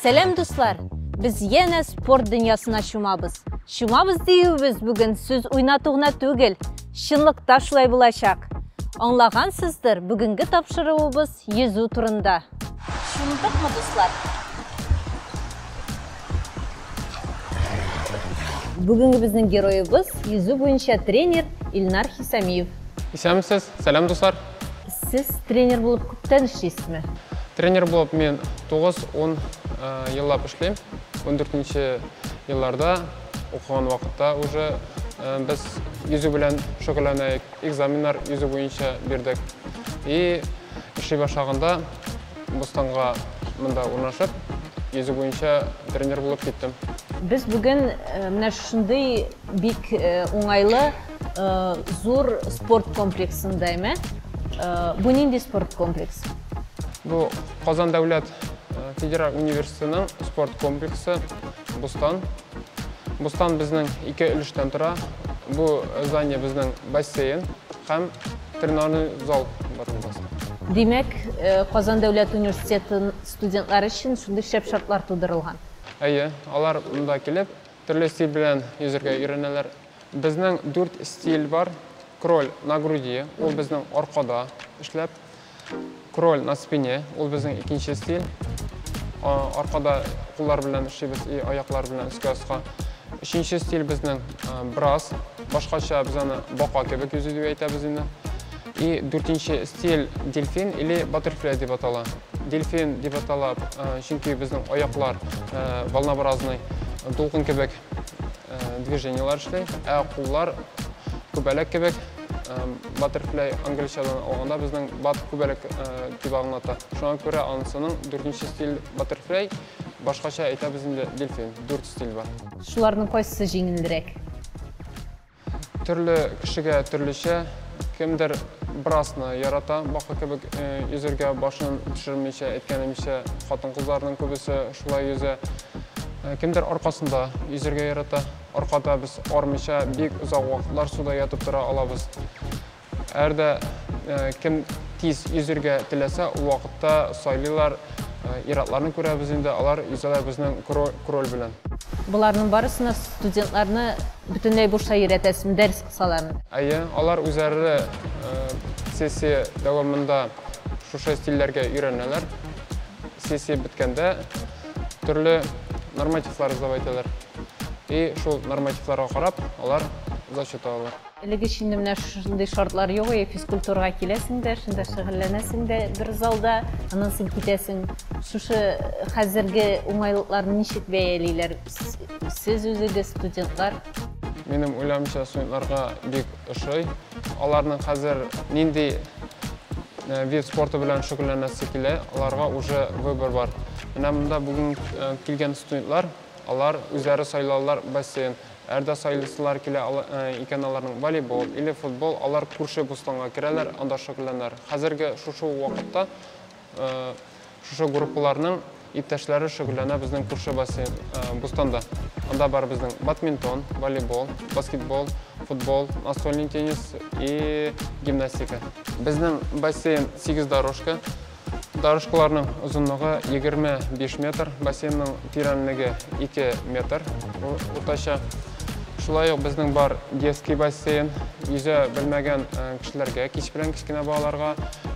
Сәлам дуслар! Без янә спорт дөньясына чумабыз. Чумабыз диюебез бүген сүз уйнату гына түгел, чынлыкта шулай булачак. Аңлагансыздыр, бүгенге тапшыруыбыз йөзү турында. Шундыкмы, дуслар? Бүгенге безнең героебыз, йөзү буенча тренер Илнар Хисамиев. Исәнмесез, сәлам дуслар! Сез тренер булып күптән эшлисезме? Тренер булып мин 9-10 еллап эшлим. 14 нче елларда укыган вакытта уже без йөзү белән шөгыльләнәек. Экзаменнар йөзү буенча бирдек. И эшли башлаганда Бостанга монда урнашып, йөзү буенча тренер булып киттем. Без бүген э, менә шундый бик э, уңайлы э, зур спорт комплексында, әйме? Бу нинди спорт комплекс? Бу Казан дәүләт федераль университетының спорт комплексы Бустан Бостан безнең ике өлештән тора. Бу здание безнең бассейн һәм тренажерный зал бар безнең. Димәк, э, Казан дәүләт университетын студентлары өчен шундый шәп шартлар тудырылган. Әйе, алар монда килеп, төрле стиль белән йөзергә өйрәнәләр. Безнең дүрт стиль бар. Кроль на груди, ул безнең аркада эшләп. Кроль на спине, ул безнең икенче стиль. Аркада куллар белән эшлибез и аяклар белән өскә аска. Өченче стиль безнең брас. Башкача без аны бака кебек йөзи дип әйтәбез инде. И дүртенче стиль дельфин или баттерфляй дип атала. Дельфин дип атала, чөнки безнең аяклар волнообразный, дулкын кебек. движениялар эшли. Ә куллар күбәләк кебек баттерфляй англичадан алганда безнең бат күбәләк дип аңлата. Шуңа күрә анысының дүртенче стиль баттерфляй, башкача әйтәбез инде дельфин, дүрт стиль бар. Шуларның кайсысы җиңелрәк? Төрле кешегә төрлечә, кемдер брасны ярата, бака кебек йөзергә башын төшермичә, әйткәнемчә, хатын-кызларның күбесе шулай йөзә. Кемдер аркасында йөзергә ярата. Аркада без армича бик озак вакытлар суда ятып тора алабыз. Әр дә кем тиз йөзергә теләсә, ул вакытта сайлыйлар. Иратларны күрәбез инде, алар йөзәләр безнең кроль белән. Боларның барысына студентларны бөтенләй бушта йөрәтәсезме, дәрес кысалармы? Әйе, алар үзләре сессия дәвамында шушы стильләргә өйрәнәләр. Сессия беткәндә төрле нормативлар эзләп әйтәләр. И шул нормативларга карап, алар зачет алалар. Элек өчен дә менә шушындый шартлар юк иде, физкультурага киләсең дә, шунда шөгыльләнәсең дә бер залда, аннан соң китәсең. Шушы хәзерге уңайлыкларны ничек бәялиләр сез үзегез, студентлар? Минем уйлавымча, студентларга бик ошый. Аларның хәзер нинди вид спорты белән шөгыльләнәсе килә, аларга уже выбор бар. Менә монда бүген килгән студентлар, алар үзләре сайлалар бассейн. Әр дә сайлыйсылар килә икән аларның, волейбол, или футбол, алар күрше Бустанга керәләр, анда шөгыльләнәләр. Хәзерге шушы ук вакытта шушы группаларның иптәшләре шөгыльләнә безнең күрше бассейн, Бустанда. Анда бар безнең бадминтон, волейбол, баскетбол, футбол, настольный теннис и гимнастика. Безнең бассейн сигез дорожка. Дорожкаларның озынлыгы 25 метр, бассейнның тирәнлеге 2 метр уртача. Шулай ук безнең бар детский бассейн, йөзә белмәгән кешеләргә, кич белән кечкенә балаларга,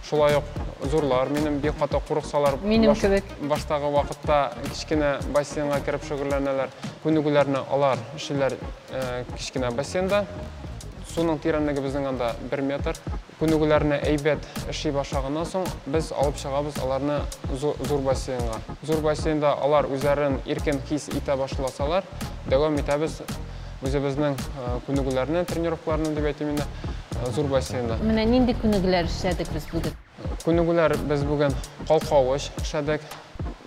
шулай ук зурлар, минем бик каты курыксалар, минем кебек баштагы вакытта кечкенә бассейнга кереп шөгыльләнәләр. Күнегүләрне алар эшлиләр кечкенә бассейнда. Суның тирәнлеге безнең анда 1 метр. Күнегүләрне әйбәт эшли башлаганнан соң, без алып чыгабыз аларны зур бассейнга. Зур бассейнда алар үзләрен иркен хис итә башласалар, дәвам итәбез үзебезнең күнегүләрне, тренировкаларны дип әйтим инде, зур бассейнда. Менә нинди күнегүләр эшләдек без бүген? Күнегүләр без бүген калкавыч эшләдек,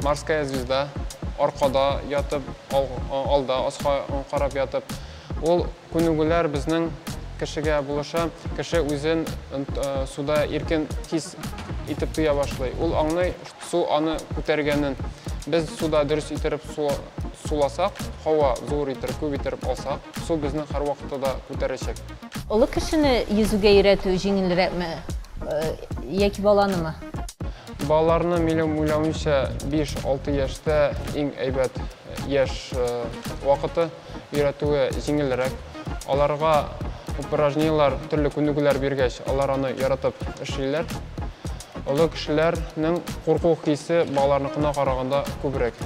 морская звезда, аркада ятып, алда аска карап ятып. Ул Күнегүләр безнең кешегә булыша, кеше үзен суда иркен хис итеп тоя башлый. Ул аңлый, су аны күтәргәнен. Без суда дөрес иттереп суласак, һава зур иттереп, күп иттереп алсак, су безне һәрвакытта да күтәрәчәк. Олы кешене йөзүгә өйрәтү җиңелрәкме яки баланымы? Балаларны, минем уйлавымча, 5-6 яшьтә иң әйбәт яшь вакыты. өйрәтүе җиңелрәк. Аларга упражнениеләр, төрле күнегүләр биргәч, алар аны яратып эшлиләр. Олы кешеләрнең курку хисе балаларныкына караганда күбрәк.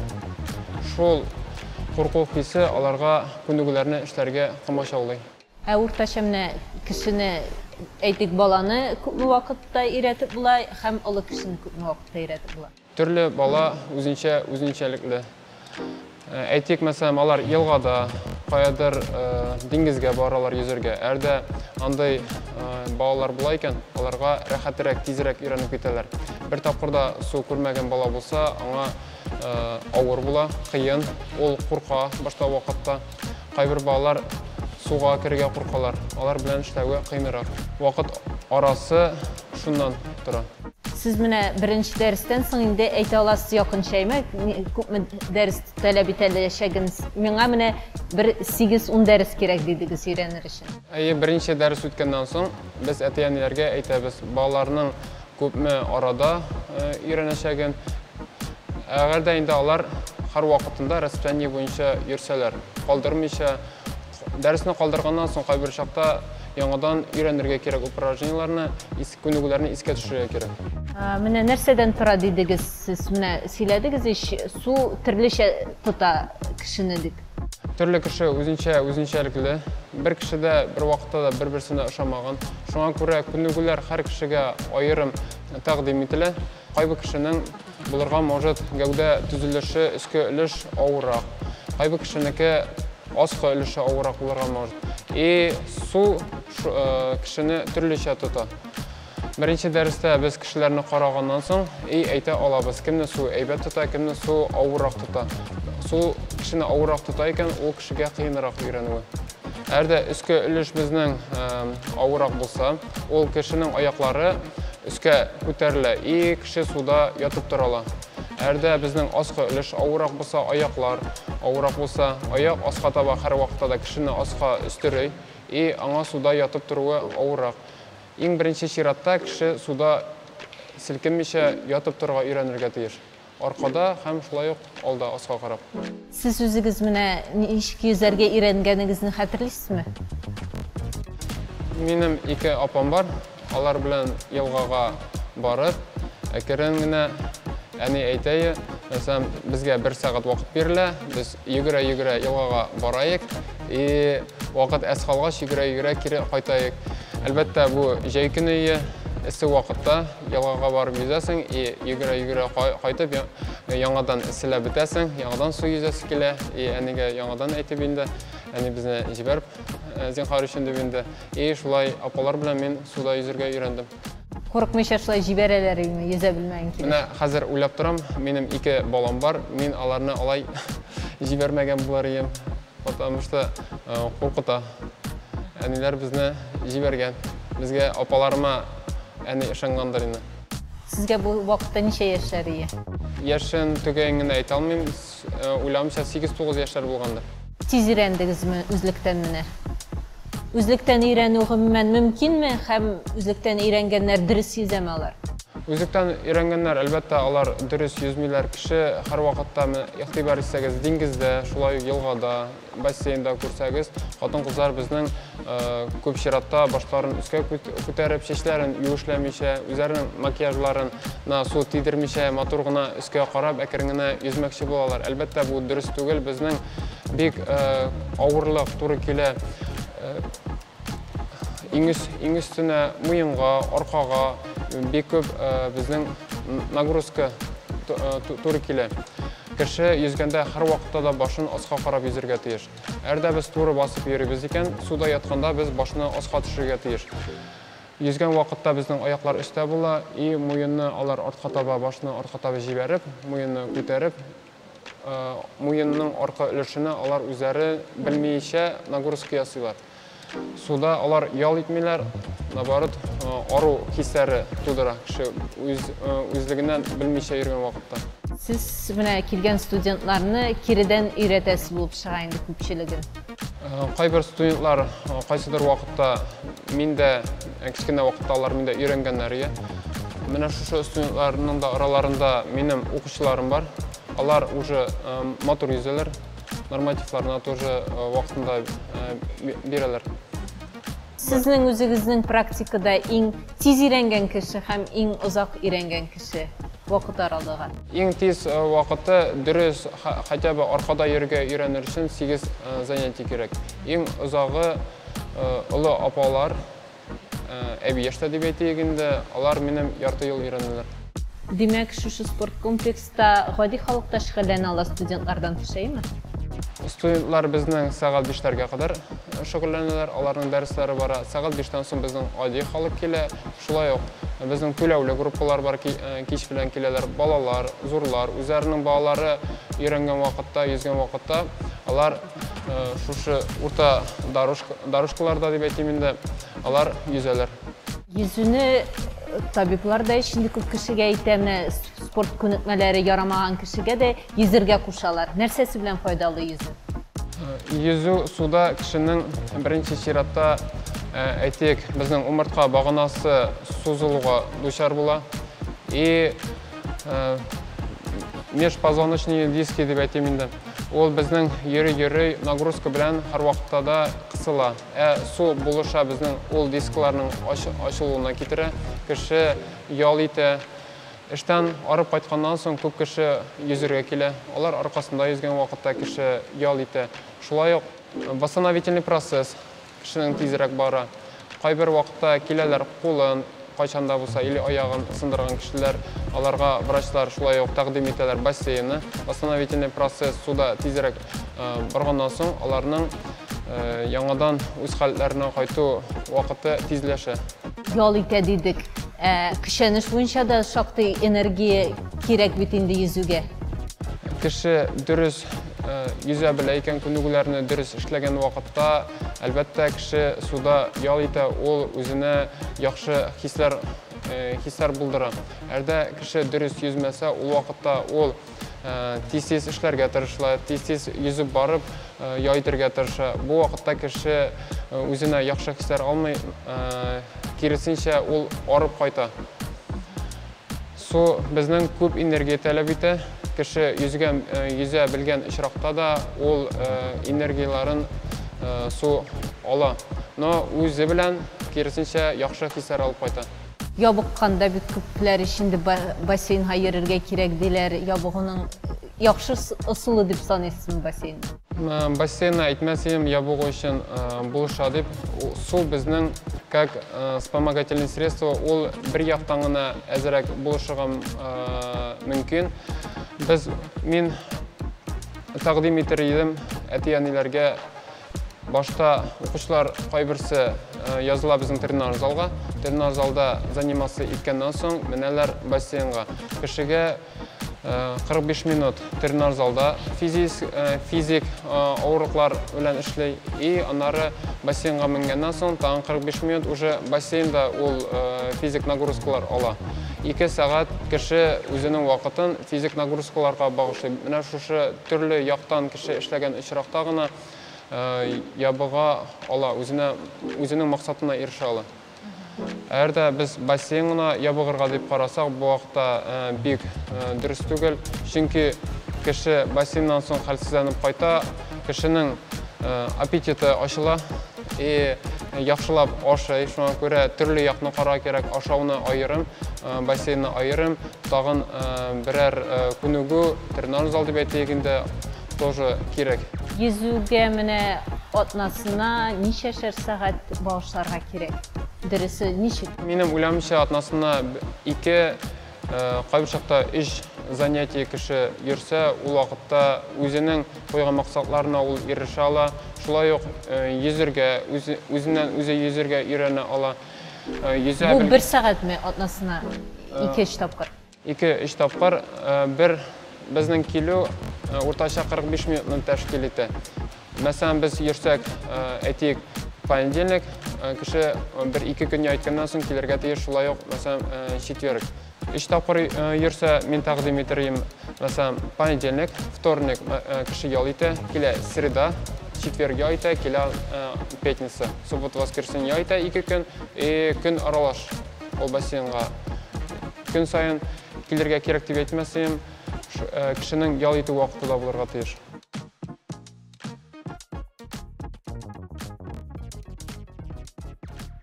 Шул курку хисе аларга күнегүләрне эшләргә комачаулый. Ә уртача менә кешене, әйтик, баланы күпме вакытта өйрәтеп була һәм олы кешене күпме вакытта өйрәтеп була? Төрле бала үзенчә үзенчәлекле. Әйтик, мәсәлән, алар елгада, каядыр диңгезгә баралар йөзәргә. Әрдә андый балалар була икән, аларга рәхәтерәк, тизрәк өйрәнеп китәләр. Бер тапкырда су күрмәгән бала булса, аңа авыр була, кыен, ул курка башта вакытта. Кайбер балалар суга керергә куркалар, алар белән эшләве кыенрак. Вакыт арасы шуннан тора. Сез менә беренче дәрестән соң инде әйтә аласыз якынчаймы, күпме дәрес таләп итә әләчәген. Миңа менә бер 8-10 дәрес кирәк дидегез өйрәнер өчен. Әйе, беренче дәрес үткәннән соң без әти-әниләргә әйтәбез, балаларның күпме арада өйрәнәчәген. Әгәр дә инде алар һәр вакытында расписание буенча йөрсәләр, калдырмыйча, дәресне калдырганнан соң кайбер чакта яңадан өйрәнергә кирәк упражнениеләрне, Күнегүләрне искә төшерергә кирәк. Менә нәрсәдән тора дидегез сез? Менә сөйләдегез ич, су төрлечә тота кешене дип. Төрле кеше үзенчә үзенчәлекле. Бер кеше дә бер вакытта да бер-берсенә ошамаган. Шуңа күрә күнегүләр һәр кешегә аерым тәкъдим ителә. Кайбер кешенең Булырга может, гәүдә төзелеше өске өлеш авыррак. Кайбы кешенеке аскы өлеше авыррак булырга может. И су кешене төрлечә тота. Беренче дәрестә без кешеләрне караганнан соң, и әйтә алабыз, кемне су әйбәт тота, кемне су авыррак тота. Су кешене авыррак тота икән, ул кешегә кыенрак өйрәнүе. Әгәр дә өскә өлеш безнең авырак булса, ул кешенең аяклары өскә күтәрелә и кеше суда ятып тора ала. Әгәр дә безнең аска өлеш авырак булса, аяклар авырак булса, аяк аска таба һәрвакытта да кешене аска өстерөй и аңа суда ятып торуы авырак. Иң беренче чиратта кеше суда селкенмичә ятып торырга өйрәнергә тиеш. Аркада һәм шулай ук алда аска карап. Сез үзегез менә ничек йөзәргә өйрәнгәнегезне хәтерлисезме? Минем ике апам бар, алар белән елгага барып, әкерен генә, әни әйтәе, мәсәлән, безгә бер сәгать вакыт бирелә, без йөгерә-йөгерә елгага бараек и вакыт әз калгач йөгерә-йөгерә кире кайтаек. Әлбәттә, бу җәй көне ие, эссе вакытта. Елгага барып йөзәсең и йөгерә-йөгерә кайтып яңадан эсселәп бетәсең, яңадан су йөзәсе килә и әнигә яңадан әйтеп инде, әни безне җибәр э, зинхар өчен дип инде. И шулай апалар белән мин суда йөзергә өйрәндем. Курыкмыйча шулай җибәрәләр инде, йөзә белмәгән килеш. Менә хәзер уйлап торам, минем ике балам бар, мин аларны алай җибәрмәгән булар идем. Потому что куркыта. Әниләр безне җибәргән. Безгә апаларыма әни ышангандыр инде. Сезгә бу вакытта ничә яшьләр ия? Яшен төгәен генә әйтә алмыйм. Уйлавымча, 8-9 яшьләр булгандыр. Тиз өйрәндегезме үзлектән менә? Үзлектән өйрәнү гомумән мөмкинме һәм үзлектән өйрәнгәннәр дөрес йөзәме алар? Үзлектән өйрәнгәннәр, әлбәттә, алар дөрес йөзмиләр. Кеше һәрвакытта, менә игътибар итсәгез, диңгездә, шулай ук елгада, бассейнда күрсәгез, хатын-кызлар безнең күп чиратта башларын өскә күтәреп, чәчләрен юешләмичә, үзләренең макияжларына су тидермичә, матур гына өскә карап, әкрен генә йөзмәкче булалар. Әлбәттә, бу дөрес түгел, безнең бик э, авырлык туры килә. Э, иң, үс, иң өстенә муенга, аркага бик күп э, безнең нагрузка туры килә. Кеше йөзгәндә һәр вакытта да башын аска карап йөзергә тиеш. Әрдә без туры басып йөрибез икән, суда ятканда без башны аска төшергә тиеш. Йөзгән вакытта безнең аяклар өстә була, и муенны алар артка таба, башны артка таба җибәреп, муенны күтәреп, Муенның арка өлешенә алар үзләре белмиечә нагрузка ясыйлар. Суда алар ял итмиләр, наоборот, ару хисләре тудыра кеше үз үзлегеннән белмичә йөргән вакытта. Сез менә килгән студентларны киредән өйрәтәсе булып чыга инде күпчелеген. Кайбер студентлар кайсыдыр вакытта мин дә кечкенә вакытта алар миндә өйрәнгәннәр иде. Менә шушы студентларның да араларында минем укучыларым бар. Алар уже матур йөзәләр, нормативларына тоже вакытында бирәләр. Сезнең үзегезнең практикада иң тиз өйрәнгән кеше һәм иң озак өйрәнгән кеше? төсе, вакыт аралыгы. Иң тиз вакыты, дөрес, хотя бы аркада йөрергә өйрәнер өчен 8 занятие кирәк. Иң озагы олы апалар, әби яшьтә дип әйтик инде, алар минем ярты ел өйрәнәләр. Димәк, шушы спорт комплекста гади халык та шөгыльләнә ала, студентлардан тыш, әйеме? Студентлар безнең сәгать бишләргә кадәр шөгыльләнәләр, аларның дәресләре бара. Сәгать биштән соң безнең гади халык килә. Шулай ук безнең түләүле группалар бар, кич белән киләләр балалар, зурлар, үзләренең балалары өйрәнгән вакытта, йөзгән вакытта, алар шушы урта дорожкаларда дип әйтим инде, алар йөзәләр. Йөзүне табиблар да эчендә күп кешегә әйтәме, спорт күнекмәләре ярамаган кешегә дә Йөзергә кушалар. Нәрсәсе белән файдалы йөзү? Йөзү суда кешенең беренче чиратта, әйтик, безнең умыртка баганасы сузылуга дучар була. И межпозвоночные диски дип әйтим инде. Ул безнең йөри-йөри нагрузка белән һәрвакытта да кысыла. Ә су булыша безнең ул дискларның ачылуына китерә. Кеше ял итә. Эштән арып кайтканнан соң күп кеше йөзергә килә. Алар аркасында йөзгән вакытта кеше ял итә. Шулай ук восстановительный процесс кешенең тизрәк бара. Кайбер вакытта киләләр кулын, кайчан да булса, или аягын сындырган кешеләр, аларга врачлар шулай ук тәкъдим итәләр бассейны. Восстановительный процесс суда тизрәк барганнан соң аларның яңадан үз халәтләренә кайту вакыты тизләшә. Ял итә дидек. Ә көчәнеш буенча да шактый энергия кирәк бит инде йөзүгә. Кеше дөрес йөзә белә икән, күнегүләрне дөрес эшләгән вакытта, әлбәттә, кеше суда ял итә, ул үзенә яхшы хисләр булдыра. Әгәр дә кеше дөрес йөзмәсә, ул вакытта ул тиз-тиз эшләргә тырыша, тиз-тиз йөзеп барып, яй итәргә тырыша. Бу вакытта кеше үзенә яхшы хисләр алмый, киресенчә, ул арып кайта. Су безнең күп энергия таләп итә. Кеше йөзгән, йөзә белгән очракта да ул энергияләрен су ала. Но үзе белән киресенчә яхшы хисләр алып кайта. Ябыкканда бит күпләр ич инде бассейнга йөрергә кирәк диләр, ябыгуның яхшы ысулы дип саныйсызмы бассейнны? Бассейнны әйтмәс идем ябыгу өчен булыша дип. Су безнең как вспомогательный средство, ул бер яктан гына әзрәк булышырга мөмкин. Без, мин тәкъдим итер идем әти-әниләргә Башта укучылар кайберсе языла безнең тренаж залга. Тренаж залда занимация иткәннән соң менәләр бассейнга. Кешегә 45 минут тренаж залда физик, физик авырлыклар белән эшли. И аннары бассейнга менгәннән соң тагын 45 минут уже бассейнда ул физик нагрузкалар ала. 2 сәгать кеше үзенең вакытын физик нагрузкаларга багышлый. Менә шушы Төрле яктан кеше эшләгән очракта гына ябыга ала, үзенә, үзенең максатына ирешә ала. Әгәр дә без бассейн гына ябыгырга дип карасак, бу вакытта бик дөрес түгел, чөнки кеше бассейннан соң хәлсезләнеп кайта, кешенең аппетиты ачыла, и яхшылап ашый, шуңа күрә төрле якны карарга кирәк, ашауны аерым, бассейнны аерым. Тагын берәр күнегү, тренажер зал дип әйтик инде, тоже кирәк. Йөзүгә менә атнасына ничәшәр сәгать багышларга кирәк? Дөресе ничек? Минем уйлавымча, атнасына ике, кайбер чакта өч занятие кеше йөрсә, ул вакытта үзенең куйган максатларына ул ирешә ала. Шулай ук йөзергә, үзеннән-үзе йөзергә өйрәнә ала. Бу бер сәгатьме атнасына ике-өч тапкыр? Ике-өч тапкыр. Бер безнең килү уртача 45 минутны тәшкил итә. Мәсәлән, без йөрсәк, әйтик, понедельник, кеше бер-ике көн яйтканнан соң килергә тиеш, шулай ук, мәсәлән, четверг. Өч тапкыр йөрсә, мин тәкъдим итәрем, мәсәлән, понедельник, вторник кеше ял итә, килә среда, четверг ял итә, килә пятница, суббота, воскресенье ял итә ике көн, и көн аралаш ул бассейнга. Көн саен килергә кирәк дип әйтмәс идем, кешенең ял итү вакыты да булырга тиеш.